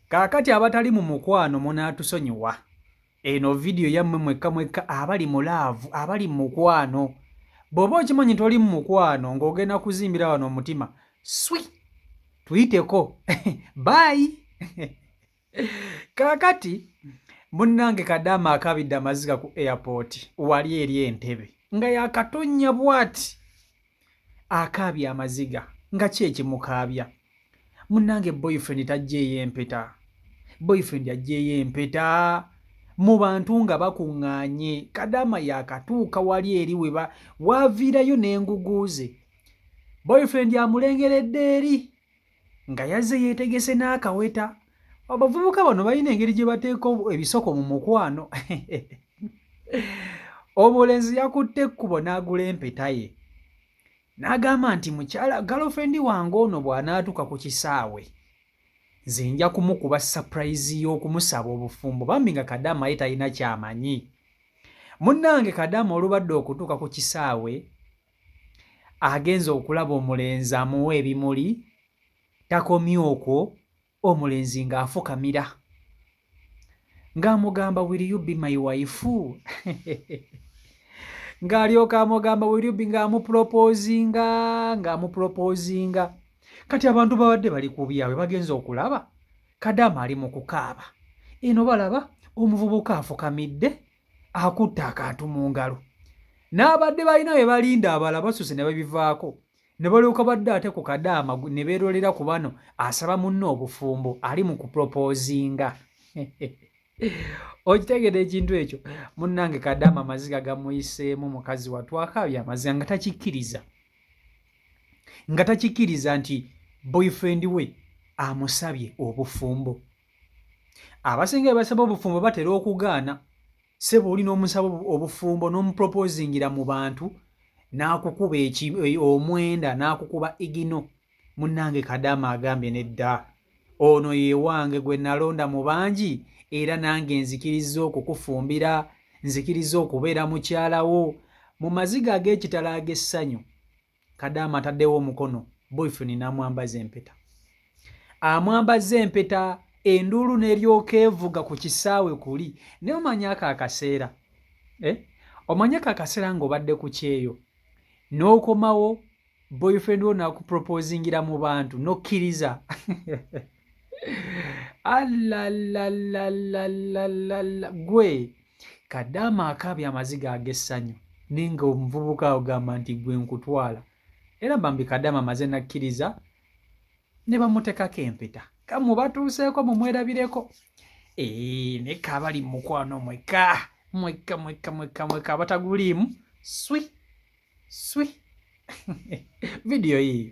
Kaakati abatali mu mukwano munaatusonyiwa eno vidiyo yammwe mwekka mwekka abali mu laavu abali mu mukwano bw'oba okimanyi nti oli mu mukwano ng'ogenda kuzimbira wano omutima swi tuyiteko baayi kaakati munnange kadaama akabidde amaziga ku airport wali eri entebe nga yakatonnya bwati akaabya amaziga nga ki ekimukaabya munnange boyfriend tajjeeyo empeta boyfriend ajjeeyo empeta mu bantu nga bakuŋŋaanye kadaama yakatuuka wali eri weba waaviirayo n'enguguuze boyfriend amulengeredde eri nga yazze yeetegese n'akaweta abavubuka bano balina engeri gye bateeka ebisoko mu mukwano omulenzi yakutte ekkubo n'agula empeta ye n'agamba nti mukyala galofendi wange ono bw'anaatuuka ku kisaawe nze nja kumukuba sapurayizi y'okumusaba obufumbo bambi nga kadaama ye talina kyamanyi munnange kadaama olubadde okutuuka ku kisaawe Agenze okulaba omulenzi amuwa ebimuli, takomye okwo omulenzi ng'afukamira ng'amugamba will you be my wife ng'alyoka amugamba will you be ng'amupropozinga ng'amupropozinga kati abantu babadde bali ku byabwe bagenze okulaba kadaama ali mu kukaaba eno balaba omuvubuka afukamidde akutte akantu mu ngalo n'abadde balina bye balinda abala basuse ne babivaako ne balyoka badde ate ku kadaama ne beerolera ku bano asaba munne obufumbo ali mu kupropozinga okitegera ekintu ekyo munnange kadaama amaziga gamuyiseemu mukazi watu akaabye amaziga nga takikkiriza nga takikkiriza nti boyfriend we amusabye obufumbo abasinga ebasaba obufumbo batera okugaana sebo oli n'omusaba obufumbo n'omuproposingira mu bantu n'akukuba e, omwenda n'akukuba igino munnange kadaama agambye nedda ono yewange gwe nalonda mu bangi era nange nzikiriza okukufumbira nzikiriza okubeera mukyalawo mu maziga ag'ekitala ag'essanyu kadaama ataddewo omukono boyfriend n'amwambaza empeta amwambaza empeta enduulu n'eryoka evuga ku kisaawe kuli naye omanya ako akaseera eh? omanya ako akaseera ng'obadde ku kyeyo n'okomawo boyfriend wo nakuproposingira mu bantu n'okkiriza alalalalalalalala gwe kadaama akaabya amaziga ag'essanyu naye nga omuvubuka agamba nti gwe nkutwala era bambi kadaama maze nakkiriza ne bamutekako empeta kamu batuuseeko mumwerabireko ee naye kaabali mukwano mweka mweka mweka mweka mweka abataguliimu swi swi vidiyo yiyo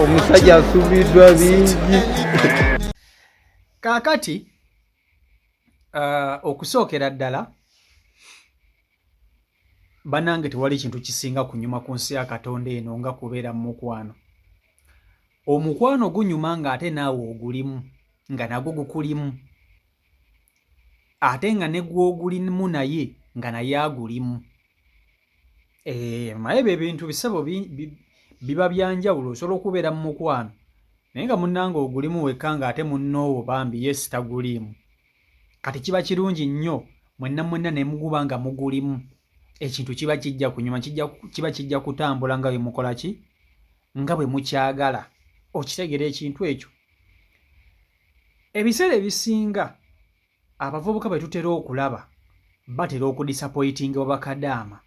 omusajja asubiddwa bingi kaakati uh, okusookera ddala banange tewali kintu kisinga kunyuma ku nsi ya katonda eno nga kubeera mu mukwano omukwano gunyuma ng'ate naawe ogulimu nga nagwo gukulimu ate nga ne gwogulimu naye nga naye agulimu Eh, naye ebyo ebintu bisebo biba byanjawulo osobola okubeera mu mukwano naye nga munnanga ogulimu wekka nga ate munnoowo bambi yes taguliimu kati kiba kirungi nnyo mwenna mwenna nemuguba nga mugulimu ekintu kiba kijja kunyuma kiba kijja kutambula nga bwe mukola ki nga bwe mukyagala okitegera ekintu ekyo ebiseera ebisinga Abavubuka be tutera okulaba batera okudisapoyitinga obakadaama.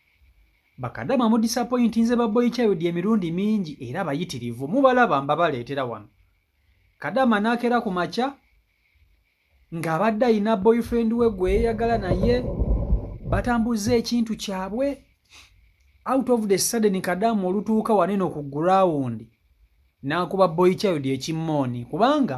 Bakadaama mudisapoyintinze ba boy child emirundi mingi era bayitirivu mubalaba mbabaleetera wano. Kadaama n'akeera ku makya ng'abadde alina boyfriend we gwe yeeyagala naye batambuzza ekintu kyabwe out of the sudden kadaama olutuuka waneno ku gurawundi n'akuba boy child ekimmooni kubanga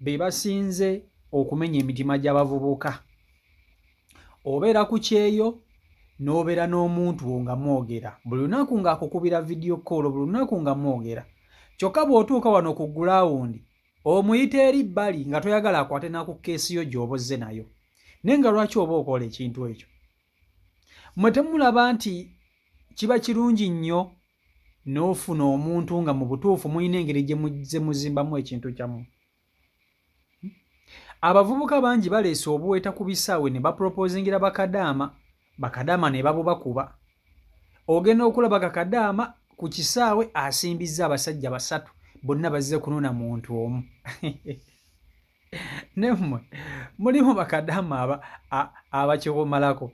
be basinze okumenya emitima gy'abavubuka obeera ku kyeyo n'obeera n'omuntu wo nga mwogera buli lunaku ng'akukubira vidiyo koolo buli lunaku nga mwogera kyokka bw'otuuka wano ku gulawundi omuyita eri bbali nga toyagala akwate naku keesi yo gy'oba ozze nayo naye nga lwaki oba okola ekintu ekyo mmwe temulaba nti kiba kirungi nnyo n'ofuna omuntu nga mu butuufu mulina engeri gye muzimbamu ekintu kyamu abavubuka bangi baleese obuweta ku bisaawe ne bapropoozingira bakadaama bakadaama ne babubakuba ogenda okulaba kakadaama ku kisaawe asimbizza abasajja basatu bonna bazze kunona muntu omu nemwe mulimu bakadama aba abakikomalako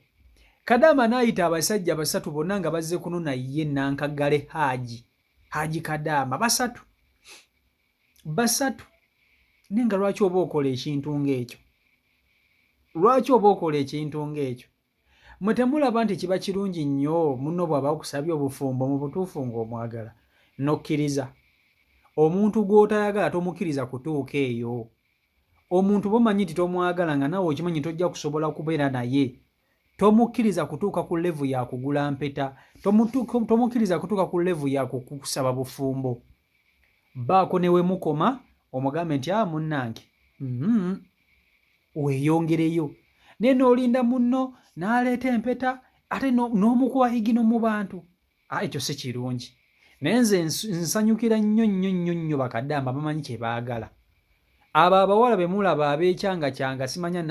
kadama naayita abasajja basatu bonna nga bazze kunona ye nankagale haaji haaji kadama basatu basatu naye nga lwaki oba okola ekintu ng'ekyo lwaki oba okola ekintu ng'ekyo Mwe temulaba nti kiba kirungi nnyo munno bw'aba akusabye obufumbo mu butuufu ng'omwagala n'okkiriza? Omuntu gw'otayagala tomukkiriza kutuuka eyo. Omuntu bw'omanyi nti tomwagala nga naawe okimanyi tojja kusobola kubeera naye, tomukkiriza kutuuka ku levu ya kugula mpeta, tomukkiriza kutuuka ku levu ya kukusaba bufumbo. baako ne we mukoma omugambe nti a ah, munnange mm-hmm, weeyongereyo naye n'olinda munno n'aleeta empeta ate n'omukuba higino mu bantu ah, ekyo si kirungi naye nze nsanyukira nnyo nnyo nnyo nnyo bakadaama bamanyi kye baagala abo abawala be mulaba abeekyangakyanga simanya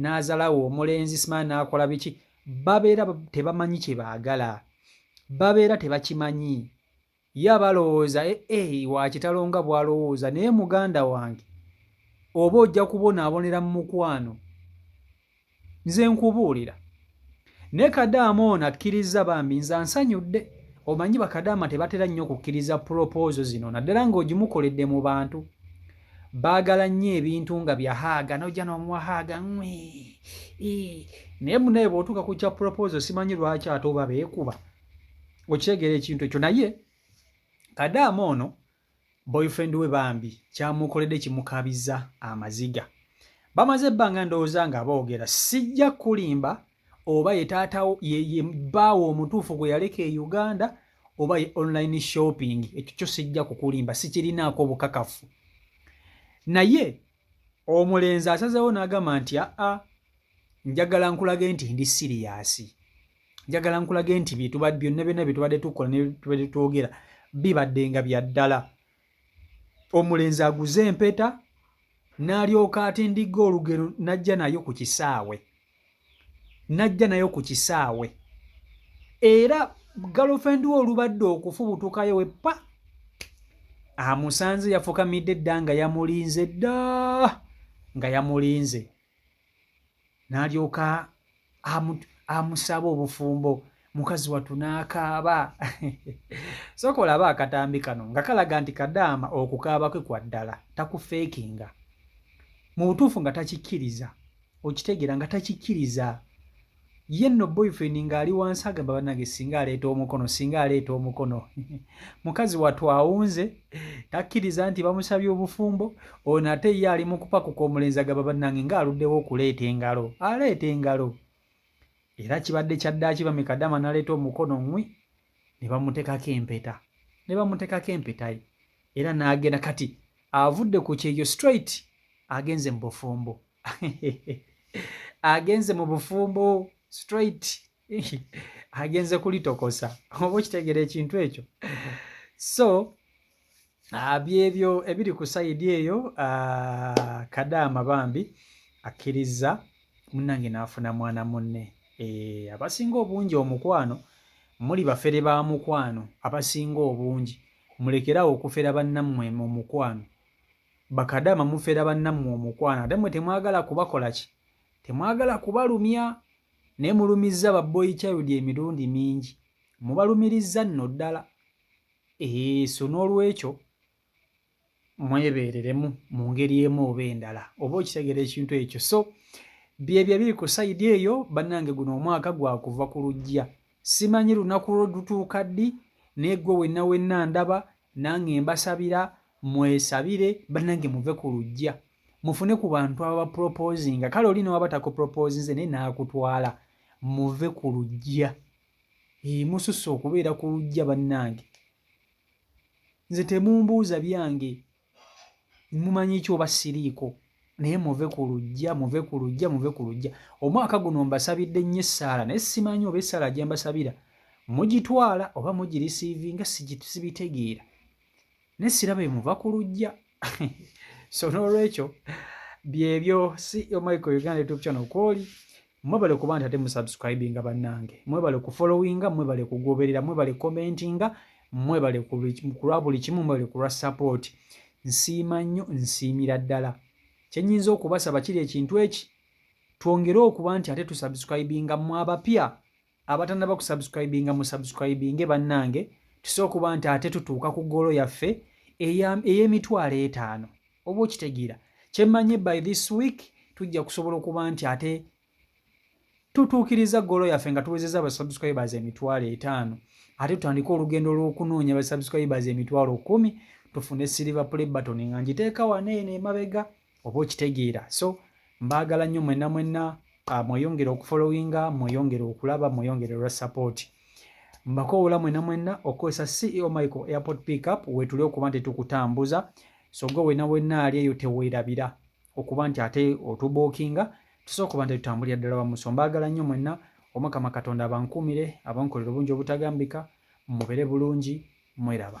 n'azalawo omulenzi simanya n'akola biki babeera tebamanyi kye baagala babeera tebakimanyi Ya balowooza e e wakitalo nga bwalowooza naye muganda wange oba ojja kubonabonera mumukwano nze nkubuulira ne kadaama ono akkirizza bambi nze ansanyudde omanyi bakadaama tebatera nnyo kukkiriza puropoozo zino naddala ng'ogimukoledde mu bantu baagala nnyo ebintu nga byahaaga nojja nomuwahaaga naye munaye bwotuuka ku kya puropoozo simanyi lwaki ate oba beekuba okitegeera ekintu ekyo naye kadaama ono boyfriend we bambi kyamukoledde kimukabiza amaziga bamaze ebbanga ndowooza nga boogera sijja kulimba oba ye taata ye bbaawo omutuufu gwe yaleka e uganda oba ye online shopping ekyo kyo sijja kukulimba sikirinaako obukakafu naye omulenzi asazeewo n'agamba nti aa njagala nkulage nti ndi siriyasi njagala nkulage nti byonna byonna bye tubadde tukola netubadde twogera bibadde nga bya ddala omulenzi aguze empeta n'alyoka atindigga olugero n'ajja nayo ku kisaawe najja nayo ku kisaawe era galofendi we olubadde okufubutukayo we pa amusanze yafukamidde dda nga yamulinze dda nga yamulinze n'alyoka amusaba obufumbo mukazi wattu n'akaaba sooka olaba akatambi kano nga kalaga nti kadaama okukaaba kwe kwa ddala takufeekinga mu butuufu nga takikkiriza okitegeera nga takikkiriza ye nno boyfriend ng'ali wansi agamba banange singa aleeta omukono singa aleeta omukono mukazi wattu awunze takkiriza nti bamusabye obufumbo ono ate ye ali mu kupakuka omulenzi agamba banange ng'aluddewo okuleeta engalo aleeta engalo era kibadde kyaddaaki bamikadama naleeta omukono ŋwi ne bamutekako empeta ne bamutekako empeta ye era n'agenda kati avudde ku kyeyo straight agenze mu bufumbo agenze mu bufumbo straight agenze kulitokosa oba okitegeera ekintu ekyo so Ah, byebyo ebiri ku sayidi eyo ah, kadaama bambi akkirizza munnange n'afuna mwana munne eh, abasinga obungi omukwano muli bafere ba mukwano abasinga obungi mulekerawo okufera bannammwe mu mukwano bakadaama mufera bannammwe omukwano ate mwe temwagala kubakola ki temwagala kubalumya naye mulumizza baboyi child emirundi mingi mubalumirizza nno ddala Eeh, so n'olwekyo mwebeereremu mu ngeri emu oba endala oba okitegera ekintu ekyo so byebyo ebiri ku sayidi eyo bannange guno omwaka gwakuva ku lujja simanyi lunaku lwo lutuuka ddi naye gwe wenna wenna ndaba nange mbasabira mwesabire bannange muve ku lujja mufune ku bantu ababaproposinga kale oli newaba takuproposinze naye naakutwala muve ku lujja Eeh, mususse okubeera ku lujja bannange. Nze temumbuuza byange, mumanyi ki oba siriiko naye muve ku lujja, muve ku lujja, muve ku lujja. Omwaka guno mbasabidde nnyo essaala naye simanyi oba essaala gye mbasabira mugitwala oba mugirisiivinga sibitegeera. ne siraba emuva ku lujja so n'olwekyo byebyo ceo michael uganda youtube channel kwoli mwebale kuba nti ate musubscribinga bannange mwebale kufollowinga mwebale kugoberera mwebale commentinga mwebale kulwa buli kimu mwebale kulwa support nsiima nnyo nsiimira ddala kyenyinza okubasaba kiri ekintu eki twongere okuba nti ate tusubscribinga mu abapya abatanaba kusubscribinga mu subscribinge bannange tusa okuba nti ate tutuuka ku goolo yaffe ey'emitwalo etaano oba okitegeera kyemmanyi by this week tujja kusobola okuba nti ate tutuukiriza goolo yaffe nga tuwezeza aba subscribers emitwalo etaano ate tutandike olugendo lw'okunoonya aba subscribers emitwalo kumi tufune silver play button nga ngiteeka wano eno emabega oba okitegeera so mbaagala nnyo mwenna mwenna ah, mweyongere okufolowinga mweyongere okulaba mweyongere olwa support mbakoowola mwenna mwenna okukozesa ceo michael airport pickup wetuli okuba nti tukutambuza so gwe wena wenna ali eyo teweerabira okuba nti ate otubookinga tusobola okuba nti tutambulira ddala wamuso mbaagala nnyo mwenna omukama katonda abankuumire abankolera obungi obutagambika mubere bulungi mweraba